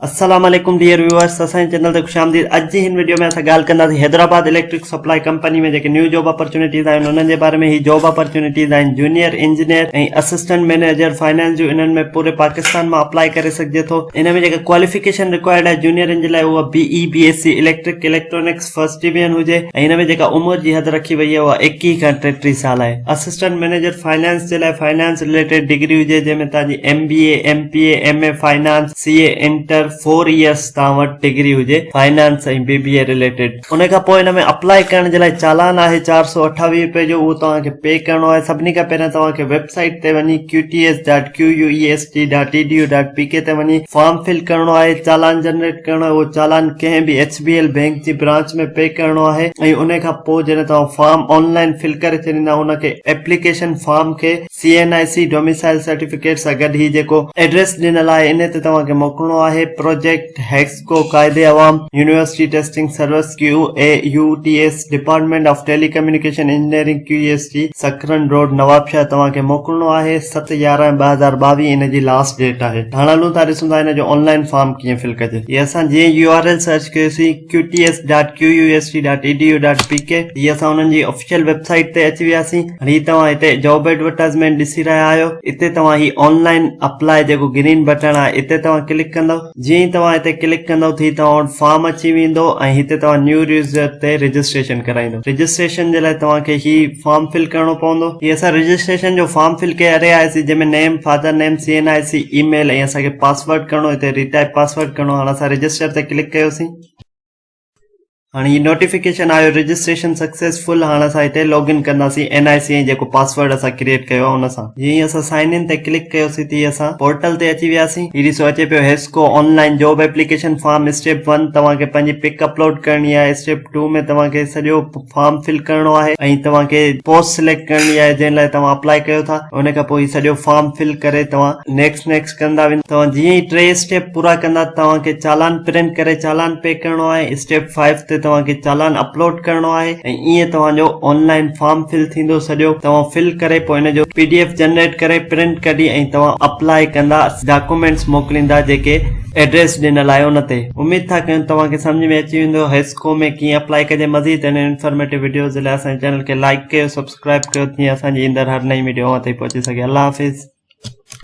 السلام عليڪم dear viewers اسان جي چينل تي خوش آمديد اڄ جي هن ويڊيو ۾ اسان ڳالهه ڪنداسين حيدرآباد اليڪٽرڪ سپلاء ڪمپني ۾ جيڪي نيو جاب اپرچونيٽيز آهن انهن جي باري ۾ هي جاب اپرچونيٽيز آهن junior engineer ۽ assistant manager finance جو انهن ۾ پوري پاڪستان مان اپلاء ڪري سگهجي ٿو ان ۾ جيڪا ڪواليفڪيشن رڪوائرڊ آهي جونيئر ان جي لاء اها B E B S C electric electronics first division هجي ۽ ان ۾ جيڪا عمر جي حد رکي وئي آهي اها ايڪيهه کان ٽيٽيهه سال آهي اسسٽنٽ مينيجر فائنانس جي لاء فائنانس ريليٽيڊ ڊگري هجي جنهن ۾ تنهنجي M B A M P A M A finance C A inter four years توهان وٽ ڊگري هجي finance ۽ B B A related ان کان پوء ان ۾ اپلائي ڪرڻ جي لاء چالان آهي چار سؤ اٺاويهه روپيه جو اهو توهان کي پي ڪرڻو آهي سڀني کان پهريان توهان کي ويب سائيٽ تي وڃي Q T S dot Q U E S T dot T D U dot P K تي وڃي فارم فل ڪرڻو آهي چالان جنريٽ ڪرڻو آهي اهو چالان ڪنهن به ايڇ بي ايل بينڪ جي برانچ ۾ پي ڪرڻو آهي ۽ ان کان پوء جڏهن توهان فارم آن لائن فل ڪري ڇڏيندا ان کي ايپليڪيشن فارم کي C N I C domicile certificate سان گڏ هي جيڪو ايڊريس ڏنل آهي انهي تي توهان کي موڪلڻو آهي پروجيڪٽ هيڪسڪو Quaid Awam university testing service Q E U T S department of telecommunication engineering Q E S جي سڪرن روڊ نوابشاهه توهان کي موڪلڻو آهي ست يارهن ٻه هزار ٻاويهه ان جي لاسٽ ڊيٽ آهي هاڻ هلون ٿا ڏسون ٿا ان جو آن لائن فارم ڪيئن فل ڪجي هي اسان جيئن يو آر ايل سرچ ڪيوسين QTS dot Q U S T dot E D U dot P K هي اسان انهن جي آفيشل ويب سائيٽ تي اچي وياسين هاڻي هي توهان هتي جاب ايڊورٽائزمينٽ ڏسي رهيا آهيو اتي توهان هي آن لائن اپلاء جيڪو گرين بٽڻ آهي اتي توهان ڪلڪ ڪندو جيئن ئي توهان هتي ڪلڪ ڪندو ته هي توهان وٽ فارم اچي ويندو ۽ هتي توهان نيو يوزر تي رجسٽريشن ڪرائيندو رجسٽريشن جي لاء توهان کي هي فارم فل ڪرڻو پوندو هي اسان رجسٽريشن جو فارم فل ڪري رهيا آهياسين جنهن ۾ name father name C N I C email ۽ اسان کي پاسورڊ ڪرڻو هتي ريٽائپ پاسورڊ ڪرڻو هاڻ اسان رجسٽر تي ڪلڪ ڪيوسين هاڻي هي نوٽيفڪيشن آيو رجسٽريشن سڪسيسفل هاڻ اسان هتي لاگ ان ڪنداسين اين آئي سي ۽ جيڪو پاسورڊ اسان ڪريئيٽ ڪيو آهي ان سان جي هي اسان سائن ان تي ڪلڪ ڪيوسين تي اسان پورٽل تي اچي وياسين هي ڏسو اچي پيو HESCO online job application form step one توهان کي پنهنجي پڪ اپلوڊ ڪرڻي آهي اسٽيپ ٽو ۾ توهان کي سڄو فارم فل ڪرڻو آهي ۽ توهان کي پوسٽ سليڪٽ ڪرڻي آهي جنهن لاء توهان اپلائي ڪيو ٿا ان کان پوء هي سڄو فارم فل ڪري توهان نيڪسٽ نيڪسٽ ڪندا ويندا توهان جيئن ئي ٽي اسٽيپ پورا ڪندا توهان کي چالان پرنٽ ڪري چالان پي ڪرڻو آهي اسٽيپ 5 تي توهان کي چالان اپلوڊ ڪرڻو آهي ۽ ائين توهان جو آنلائن فارم فل ٿيندو سڄو توهان فل ڪري پوء ان جو پي ڊي ايف جنريٽ ڪري پرنٽ ڪڍي ۽ توهان اپلائي ڪندا ڊاڪومينٽس موڪليندا جيڪي ايڊريس ڏنل آهي ان تي اميد ٿا ڪيون توهان کي سمجهه ۾ اچي ويندو ڪوم ۾ ڪيئن اپلائي ڪجي مزيد اهڙين انفارميٽو ويڊيوز جي لاء اسان جي چينل کي لائڪ ڪيو سبسڪرائب ڪيو جيئن اسان جي ايندڙ هر نئين ويڊيو اوهان تائين پهچي سگهي الله حافظ